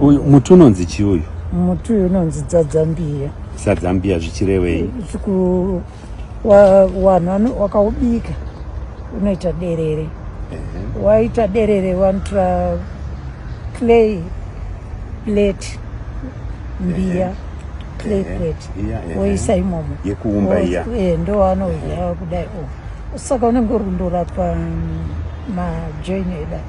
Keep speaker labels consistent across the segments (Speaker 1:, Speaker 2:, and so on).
Speaker 1: Uyu muti unonzi chii uyu? Muti uyu unonzi
Speaker 2: dzadzambiya. Sadzambiya
Speaker 1: zvichirevei? Chiku wa,
Speaker 2: wanhu wakaubika unoita derere. Uh-huh. Waita derere wanotora clay plate mbiya. Uh-huh playplate woisa imomo yekuumba iya eh,
Speaker 1: ndo wanoudya
Speaker 2: kudai oh. saka unenge uri kundorapa mm, majoin edai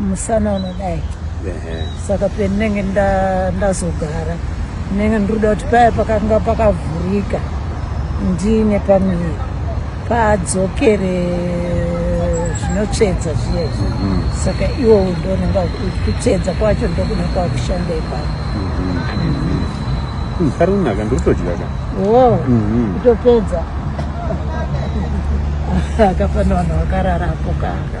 Speaker 2: musana unodai saka pendinenge ndazogara ndinenge ndiruda kuti paya pakanga pakavhurika ndine pamiri padzokere zvinotsvedza zviya izvi mhm. saka iwo ndonenga kutsvedza kwacho ndokuda kwakushanda ipapo
Speaker 1: ari kunaka ndiri kutodya ka o mhm.
Speaker 2: kutopedza akafana vanhu vakarara apo kaka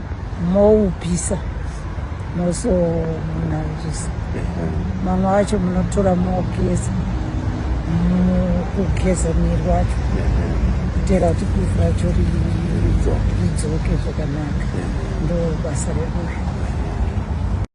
Speaker 2: moupisa moso munanzvisa mamwe acho munotora mogeza kugeza miri wacho kutera kuti kuivu racho ridzoke zvakanaka ndo basa rekuyo